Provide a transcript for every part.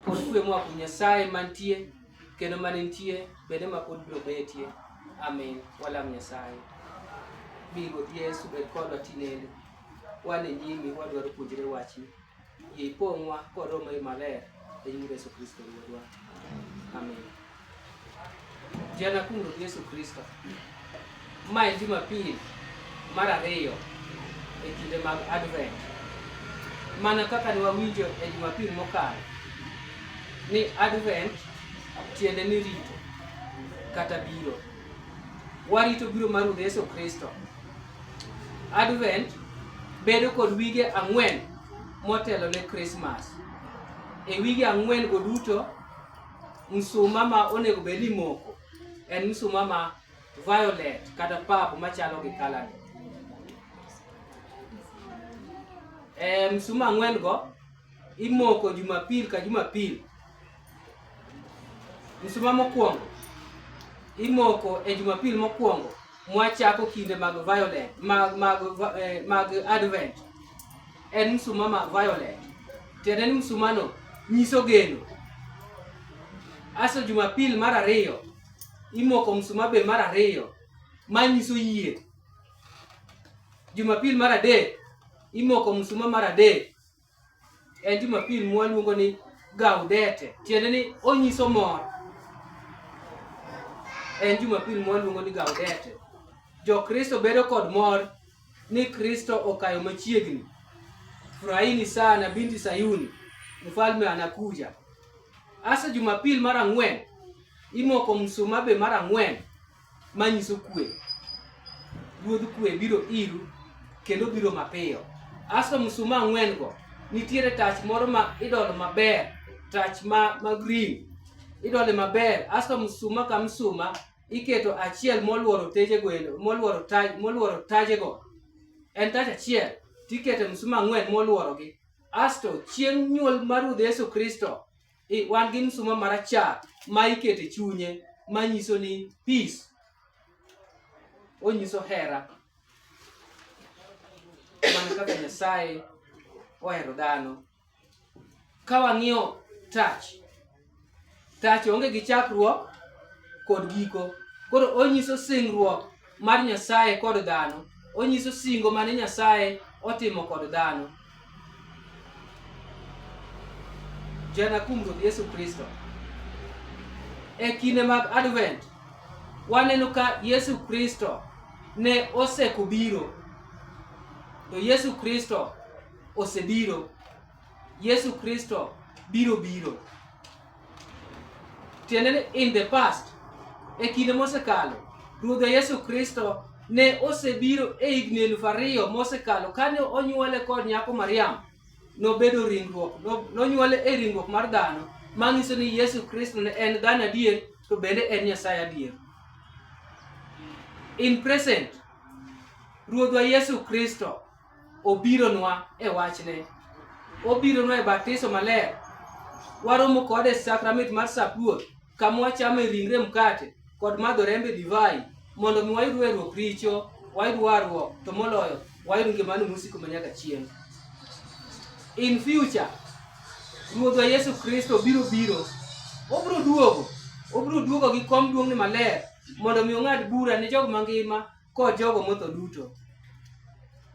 Pod kwe moa kuom Nyasaye mantie kendo mane nitie bende ma pod biro betie. Amin. Walam Nyasaye. Mi Ruoth Yesu bed kodwa tinende. Wan e nyimi wadwaro puonjre wachni. Yie ipong'wa kod Roho Maler e nying Yesu Kristo Ruodhwa. Amin. Jana kuom Ruoth Yesu Kristo. Ma en Jumapil mar ariyo e kinde mag Advent. Mana kaka ne wawinjo e Jumapil mokalo ni Advent tiende ni rito kata biro. Warito biro mar Ruoth Yesu Kristo. Advent bedo kod wige ang'wen motelo ne Christmas. E wige ang'wen go duto msuma ma onego bed ni imoko en msuma ma violet kata pap machalo gi kalani. E, eh, msuma ang'wen go imoko jumapil ka jumapil. Msuma mokwongo imoko e jumapil mokwongo mwachako kinde mag violet mag mag eh, mag advent en msuma ma violet tiende ni msumano nyiso geno aso jumapil mar ariyo imoko msuma be mar ariyo ma nyiso yie jumapil mar adek imoko msuma mar adek en jumapil mwaluongo ni gaudete tiende ni onyiso mor en jumapil mwaluongo ni gaudete jokristo bedo kod mor ni kristo okayo machiegni furahini sana binti sayuni mfalme anakuja asa jumapil mar ang'wen imoko msuma be mar ang'wen manyiso kwe. Ruodh kwe biro iru kendo biro mapiyo. Aso msuma ang'wen go nitiere tach moro ma idolo maber, tach ma, ma green idole maber. Aso msuma ka msuma iketo achiel moluoro teje gwelo moluoro taj moluoro taje go en taj achiel tikete msuma ang'wen moluoro gi asto chieng' nyuol mar ruoth yesu kristo I- wan gi msuma marachar ma iketo e chunye ma nyiso ni peace onyiso hera mana kaka nyasaye ohero dhano ka wang'iyo tach tach onge gi chakruok kod giko koro onyiso singruok mar Nyasaye kod dhano, onyiso singo mane Nyasaye otimo kod dhano. Jana kuom Ruoth Yesu Kristo. E kinde mag Advent, waneno ka Yesu Kristo ne oseko biro, to Yesu Kristo osebiro, Yesu Kristo biro biro. tiende ni in the past e kinde mosekalo ruodhe yesu kristo ne osebiro e higni elufu ariyo mosekalo kane onyuole kod nyako mariam nobedo ringruok nonyuole e ringruok mar dhano manyiso ni yesu kristo ne en dhano adier to bende en nyasaye adier in present ruodhwa yesu kristo obironwa e wachne obironwa e batiso maler waromo kode e sakramit mar sap ruoth kama wachame ringre mkate kod madho rembe divai mondo mi wayud werruok richo wayud warruok to moloyo wayud ngimano mosiko ma nyaka chieng' in future ruodhwa yesu kristo biro biro obiro duogo obiro duogo gi kom duong'ne maler mondo mi ong'ad bura ne jog mangima kod jogo motho duto.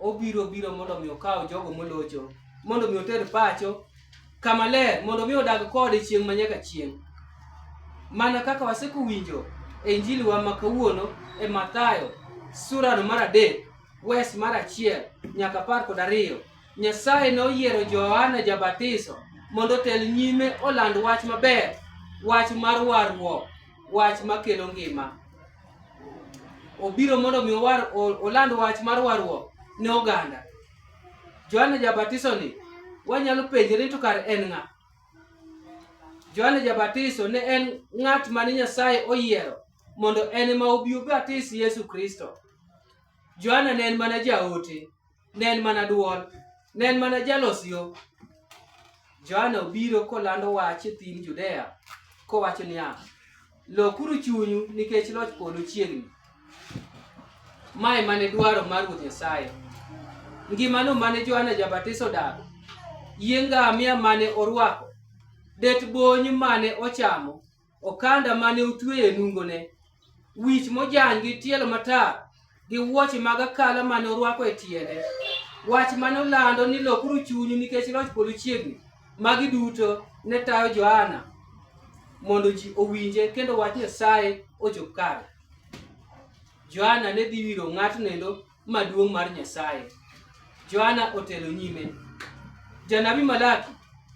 Obiro biro mondo mi okaw jogo molocho, mondo mi oter pacho kama ler, mondo mi odag kode chieng' ma nyaka chieng'. Mana kaka waseko winjo e Injili wa ma kawuono e Mathayo surano mar adek wes mar achiel nyaka apar kod ariyo Nyasaye noyiero Johana Jabatiso mondo otel nyime oland wach maber, wach mar warruok, wach makelo ngima. obiro mondo mi owar oland wach mar warruok ne oganda. Johana Jabatiso ni wanyalo penjore to kar en ng'a? Johana Jabatiso ne en ng'at mane Nyasaye oyiero mondo en ma obi obatis Yesu Kristo. Johana ne en mana jaote. ne en mana dwol, ne en mana jalos yo. Johana obiro kolando wach e thim Judea kowacho niya, lokuru chunyu nikech loch polo chiegni. Mae mane dwaro mar Ruoth Nyasaye. Ngimano mane Johana Jabatiso odago, yie ngamia mane orwako, det bony mane ochamo, okanda mane otweyo e nungone, wich mojany gi tielo matar, gi wuoche mag akala mane orwako e tiende. Wach mane olando ni lokuru chunyu nikech loch polo chiegni. Magi duto ne tayo Johana mondo ji owinje kendo wach Nyasaye ochop kare. Johana ne dhi wiro ng'atno endo maduong' mar Nyasaye. Johana otelo nyime. Janabi Malaki,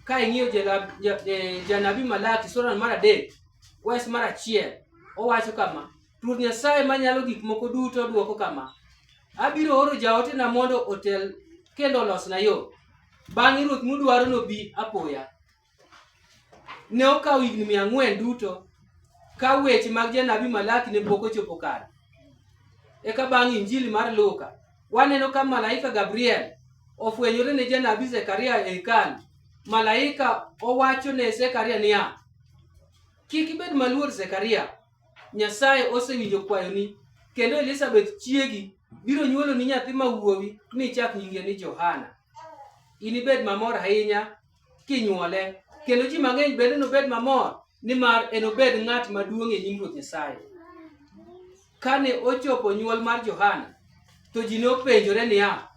ka ing'iyo e, janabi Malaki sura mar adek wes mar achiel owacho kama, Ruoth Nyasaye manyalo gik moko duto dwoko kama, abiro oro jaotena mondo otel kendo olosna yo. Bang'e Ruoth mudwaro nobi apoya. ne okawo higni mia ang'wen duto ka weche mag janabi Malaki ne pok ochopo kare. Eka bang' Injili mar Luka, waneno ka malaika Gabriel ofwenyore ne janabi Zekaria e hekalu. Malaika owacho ne Zekaria niya, kik ibed maluor Zekaria, Nyasaye osewinjo kwayoni, kendo Elizabeth chiegi biro nyuolo ni nyathi ma wuowi mi chak nyinge ni Johana. Inibed mamor ahinya kinyuole, kendo ji mang'eny bende nobed mamor nimar enobed ng'at maduong' e nyim Ruoth Nyasaye. Kane ochopo nyuol mar Johana, to ji nopenjore niya,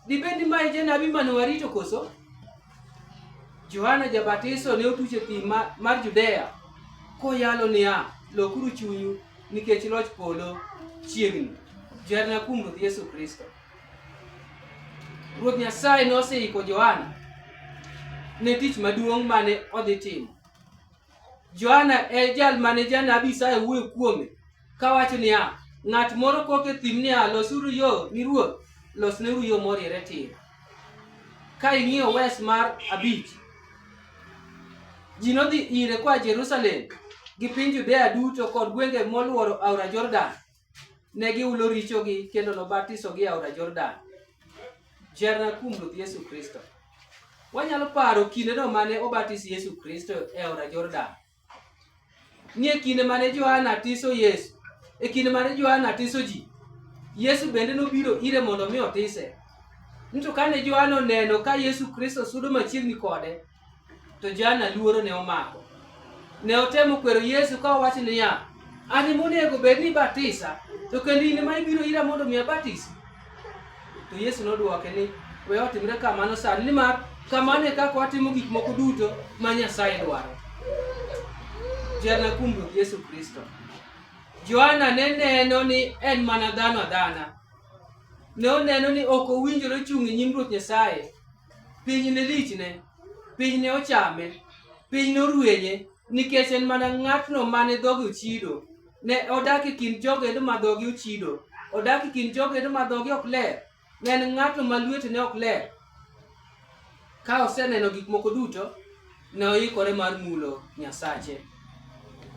dibed ni ma e janabi mane warito koso? Johana Jabatiso ne otuch e thim mar Judea koyalo niya, lokuru chunyu nikech loch polo chiegni. Jarna kuom Ruoth Yesu Kristo. Ruoth Nyasaye noseiko Johana ne tich maduong' mane odhi timo. Johana e jal mane janabi Isaya wuoyo kuome kawacho niya, ng'at moro kok e thim niya, losuru yo ni ruoth, losneuru yo moriere tir. Ka ing'iyo wes mar abich, ji nodhi ire koa Jerusalem gi piny Judea duto kod gwenge molworo aora Jordan ne giulo richogi kendo nobatisogi e aora Jordan. Jerna kuom Ruoth Yesu Kristo. Wanyalo paro kindeno mane obatis Yesu Kristo e aora Jordan. Ni e kinde mane Johana tiso Yesu, e kinde mane Johana tiso ji, Yesu bende nobiro ire mondo mi otise. Nito kane Johana oneno ka Yesu Kristo sudo machiegni kode, To Jana luoro ne omako. Ne otemo kwero Yesu ka owacho niya, an ema onego bed ni batisa, to kendo in ema ibiro ira mondo mi abatisi. To Yesu nodwoke ni, we otimre kamano sani, nimar kamano e kaka watimo gik moko duto ma Nyasaye dwaro. Jana kuom Ruoth Yesu Kristo. Johana ne neno ni en mana dhano adhana. Ne oneno ni ok owinjore chung' e nyim Ruoth Nyasaye piny ne lichne, piny ne ochame, piny norwenye, nikech en mana ng'atno mane dhoge ochido. Ne odak e kind jogedo ma dhoge ochido, odak e kind jogedo ma dhoge ok ler. Ne en ng'atno ma lwetene ok ler. Ka oseneno gik moko duto, ne oikore mar mulo Nyasache.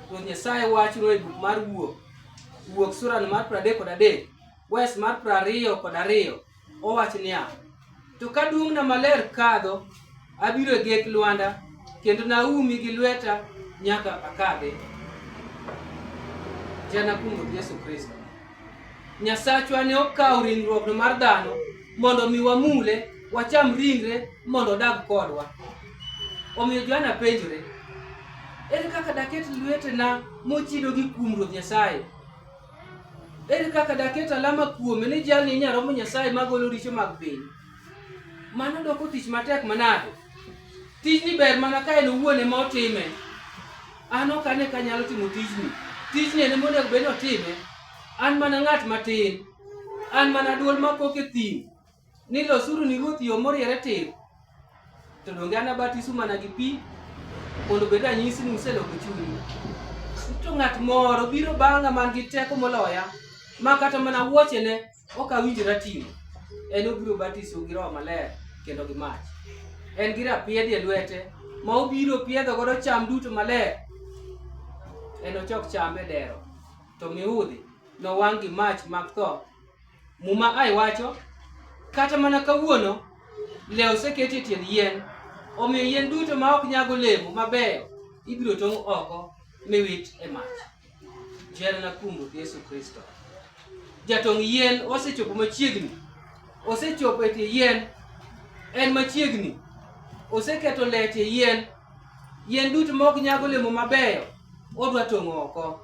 Ruoth Nyasaye wachno e buk mar Wuok, Wuok surano mar 33 kod adek. Wes mar piero ariyo kod ariyo owach niya, To ka duong'na maler kadho, abiro e gek lwanda, kendo naumi gi lweta nyaka akadhe. Jana kuom Ruoth Yesu Kristo. Nyasachwa ne okawo ringruokno mar dhano mondo mi wamule, wacham ringre mondo odag kodwa. Omiyo Johana penjore, ere kaka daket lwetena mochido gi kuom Ruoth Nyasaye? Ere kaka daket alama kuome ni jalni inya romo Nyasaye magolo richo mag piny? Mano doko tich matek manade? Tijni ber mana ka en owuon ema otime. An ok ane ka nyalo timo tijni. Tijni en monego obed ni otime. An mana ng'at matin. An mana duol makok e thim. ni losuru ni Ruoth yo moriere tir, to donge anabatisu mana gi pi mondo obed ranyisi ni useloko chunyu. To ng'at moro biro bang'a man gi teko moloya, ma kata mana wuochene ok awinjora ting'o. En obiro batisu gi Roho Maler kendo gi mach. En gi rapiedhi e lwete ma obiro piedho godo cham duto maler. En ochok cham e dero, to miudhi nowang' gi mach mag tho Muma ai wacho kata mana kawuono lew oseketi e tiend yien, omiyo yien duto ma ok nyag olemo mabeyo ibiro tong' oko miwit e mach. Jehana na kuom Ruoth Yesu Kristo. Jatong' yien osechopo machiegni, osechopo e tie yien, en machiegni, oseketo le e tie yien, yien duto ma ok nyag olemo mabeyo odwa tong' oko.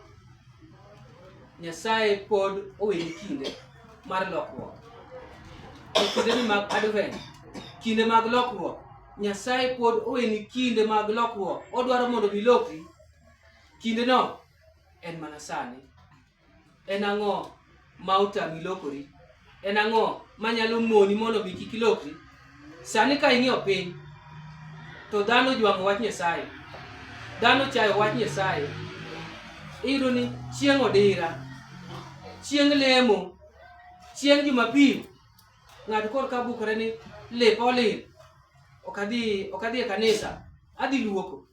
Nyasaye pod owinjo kinde mar lokruok. E kindeni mag Advent, kinde mag lokruok, Nyasaye pod owinjo kinde mag lokruok. Odwaro mondo bilokri. Kindeno en mana sani. En ang'o ma otami lokori? En ang'o ma nyalo moni mondo mi kik ilokri? Sani ka ing'iyo piny, to dhano jwang'o wach Nyasaye, dhano chayo wach Nyasaye. Iyudo ni chieng' odira, chieng' lemo, chieng' Jumapil, ng'ato koro ka bukore ni lepa olil, ok adhi ok adhi e kanisa, adhi luoko.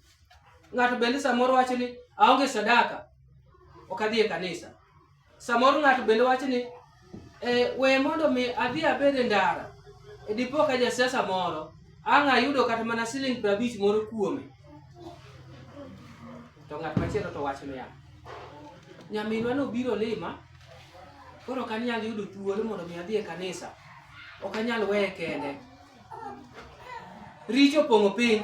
Ng'ato bende samoro wacho ni aonge sadaka, ok adhi e kanisa. Samoro ng'ato bende wacho ni e, we mondo mi adhi abed e ndara. E dipo ka jasiasa moro ang' ayudo kata mana siling prabich moro kuome. To ng'at machielo to wacho niya, nyaminwa nobiro lima, koro ok anyal yudo thuolo mondo mi adhi e kanisa. Ok anyal weye kende. Richo opong'o piny.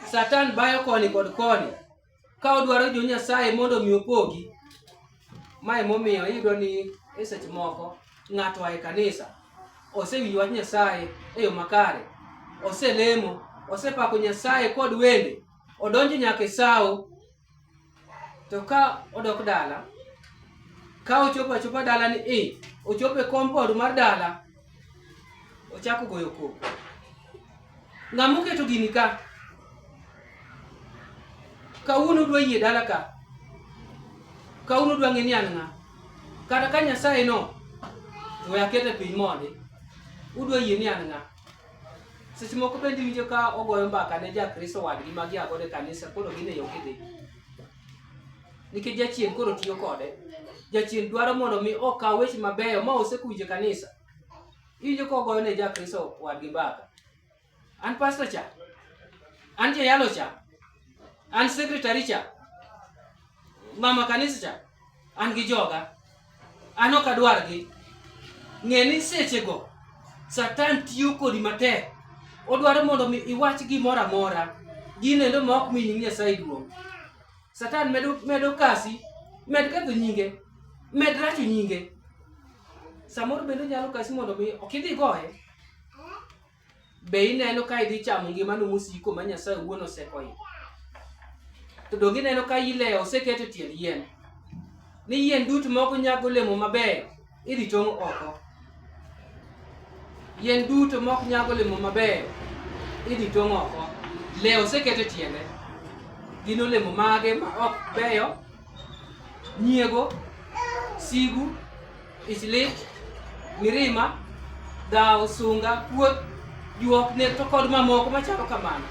Satan bayo koni kod koni. ka odwaro jo Nyasaye mondo mi opogi. Ma emomiyo iyudo ni e seche moko ng'ato ae kanisa osewinjo wach Nyasaye e yo makare, oselemo, osepako Nyasaye kod wende, odonjo nyaka e sawo, to ka odok dala, ka ochopo achopa dala ni i, ochopo e compound mar dala, Ochako goyo koko. Ng'ama oketo gini ka? Kawuono udwa yie dala ka. Kawuono udwa ng'e ni an ng'a. Kata ka Nyasaye no we akete piny mondi. Udwa yie ni an ng'a. Seche moko bende iwinjo ka ogoyo mbaka ne ja Kristo wadgi ma gia godo e kanisa koro gin e yo gidhi. nikech jachien koro tiyo kode jachien dwaro mondo mi okaw weche mabeyo ma osekuwinjo e kanisa iwinjo ka ogoyo ne jakristo wadgi mbaka an pasto cha an jayalo cha an sekretari cha mama kanisa cha an gi joga an ok adwargi ng'e ni sechego satan tiyo kodi matek odwaro mondo mi iwach gimoro amora gino endo ma ok mi nying nyasaye duong' satan medo, medo kasi med ketho nyinge med racho nyinge samoro bende nyalo kasi mondo mi ok idhi goye Be ineno ka idhi chamo ngimano mosiko ma Nyasaye owuon osekoyo? To donge ineno ka ilewo oseket e tiend yien? Ni yien duto ma ok nyag olemo mabeyo idhi tong' oko. Yien duto ma ok nyag olemo mabeyo idhi tong' oko. Lewo oseket e tiende. Gin olemo mage ma ok beyo nyiego, sigu, ichlich, mirima, dhawo, sunga, kuoth, juok, nek to kod mamoko machalo kamano.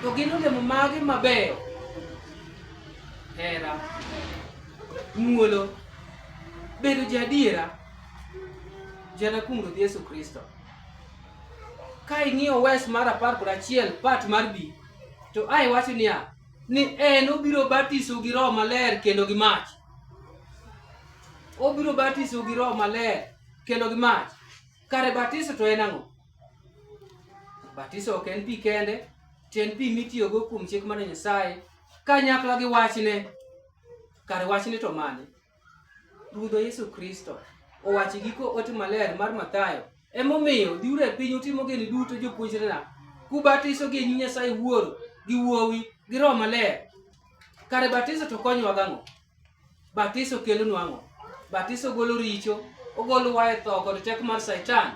To gin olemo mage mabeyo? Hera, muolo, bedo jaadiera, jana kuom Ruoth Yesu Kristo. Ka ing'iyo wes mar apar kod achiel part mar bi to a iwacho niya ni en obiro batiso gi roho maler kendo gi mach obiro batiso gi roho maler kendo gi mach kare batiso to en ang'o batiso ok en pi kende to en pi mitiyogo kuom chik mar nyasaye kanyakla gi wachne kare wachne to mane Ruodhwa Yesu Kristo owacho giko ote maler mar Mathayo, emomiyo dhiuru e piny utimo gini duto jopuonjrena, kubatiso gi nying Nyasaye Wuoro gi Wuowi gi Roho Maler. Kare batiso to konyowa gang'o? Batiso kelonwa ang'o? Batiso golo richo, ogolo wa e tho kod teko mar Satan,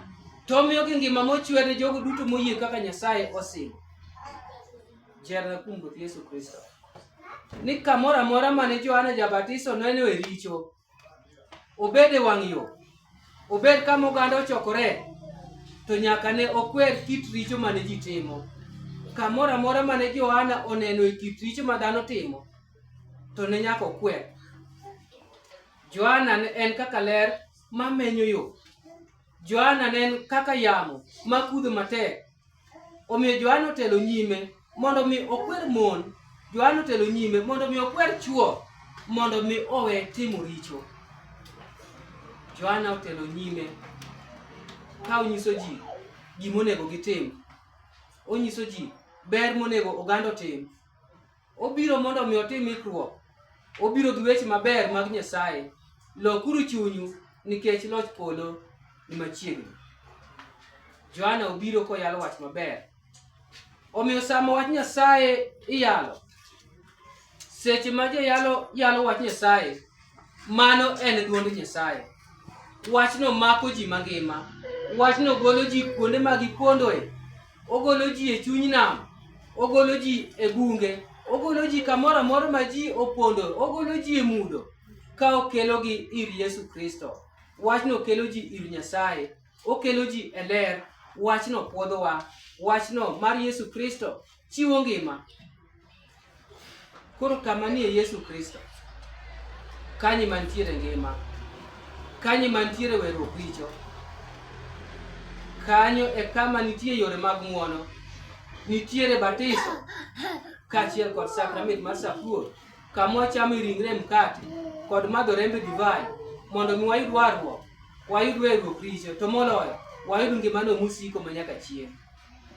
to omiyo gi ngima mochwere jogo duto moyie kaka Nyasaye osingo. Jerna kuom Ruoth Yesu Kristo. Ni kamoro amora mane Johana Jabatiso nenoe richo, obed e wang' yo, obed kama oganda ochokore, to nyaka ne okwer kit richo mane ji timo. Kamoro amora mane Johana onenoe kit richo ma dhano timo, to ne nyaka okwer. Johana en kaka ler ma menyo yo. Johana ne en kaka yamo ma kudho matek. Omiyo Johana otelo nyime mondo mi okwer mon. Johana otelo nyime mondo mi okwer chwo mondo mi owe timo richo. Johana otelo nyime ka onyiso ji gima onego gitim. Onyiso ji ber monego oganda otim. Obiro mondo mi otim ikruok. Obiro gi weche maber mag Nyasaye. Lokuru chunyu nikech loch polo ni machiegni. Johana obiro koyalo wach maber. Omiyo sama wach Nyasaye iyalo, seche ma jayalo yalo wach Nyasaye, Mano en dwond Nyasaye. Wachno mako ji mangima. Wachno golo ji kuonde ma gipondoe. Ogolo ji e chuny nam. Ogolo ji e bunge. Ogolo ji kamoro amora ma ji opondo. Ogolo ji e mudho ka okelogi ir Yesu Kristo. Wachno kelo ji ir Nyasaye. Okelo ji e ler. Wachno pwodhowa. Wachno mar Yesu Kristo chiwo ngima. Koro kama nie Yesu Kristo, kanyi mantiere ngima, kanyi mantiere weruok richo, kanyo e kama nitie yore mag ng'wono, nitiere batiso kaachiel kod sakramit mar sapuo, kama wachame ringre mkate kod madho rembe divai mondo mi wayud warruok, wayud weruok richo, to moloyo wayud ngimano mosiko manyaka chieng'.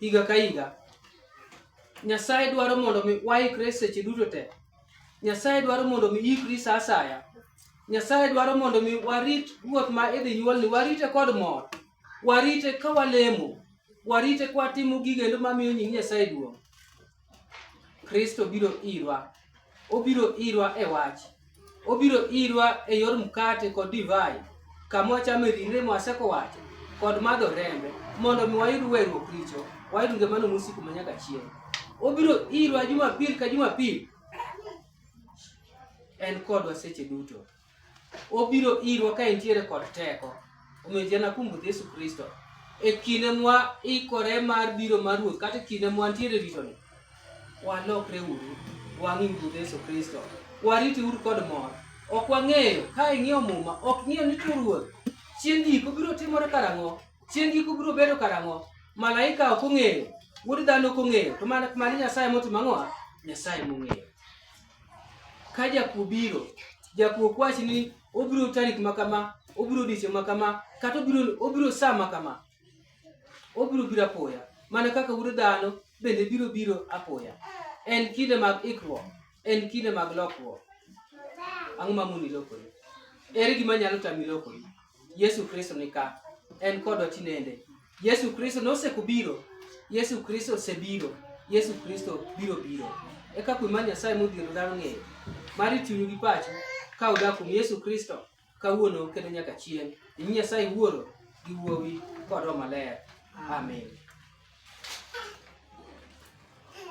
higa ka higa. Nyasaye dwaro mondo mi waikre seche duto te. Nyasaye dwaro mondo mi ikri sa asaya. Nyasaye dwaro mondo mi warit ruoth ma idhi nyuolni, warite kod mor, warite ka walemo, warite ka watimo gigendo mamiyo nying Nyasaye duong'. Kristo biro irwa. Obiro irwa e wach. Obiro irwa e yor mkate kod divai, kama wachame ringre mwaseko wacho, kod madho rembe, mondo mi wayud weruok richo, wayud ngimano mosiko ma nyaka chieng'. Obiro irwa Jumapil ka Jumapil, en kodwa seche duto. obiro irwa ka entiere kod teko omiyo ji anakumbudh yesu kristo e kinde mwa ikore mar biro mar ruoth kata e kinde mwa ntiere ritoni walokre uru wang'i ruoth yesu kristo wariti uru kod mor ok wang'eyo ka ing'iyo muma ok ing'iyo ni to ruoth chieng' giko biro timore karang'o chieng' giko biro bedo karang'o malaika ok ong'eyo wuod dhano ok ong'eyo to mana nyasaye motimo ang'owa nyasaye mong'eyo Ka jakuo biro, jakuo ok wach ni obiro tarik ma kama, obiro odiechieng' ma kama, kata obiro obiro sa ma kama. Obiro biro apoya, mana kaka wuod dhano bende biro biro apoya. En kinde mag ikruok, en kinde mag lokruok. Ang'o ma moni lokori? Ere gima nyalo tami lokori? Yesu Kristo ni ka, en kodwa tinende. Yesu Kristo noseko biro. Yesu Kristo osebiro. Yesu Kristo biro biro. Eka kuwe mar Nyasaye modhiero dhano ng'eyo. Mar chunyu gi pachu ka udak kuom Yesu Kristo kawuono kendo nyaka chieng'. Nying Nyasaye Wuoro gi Wuowi kod Roho Maler. Amen.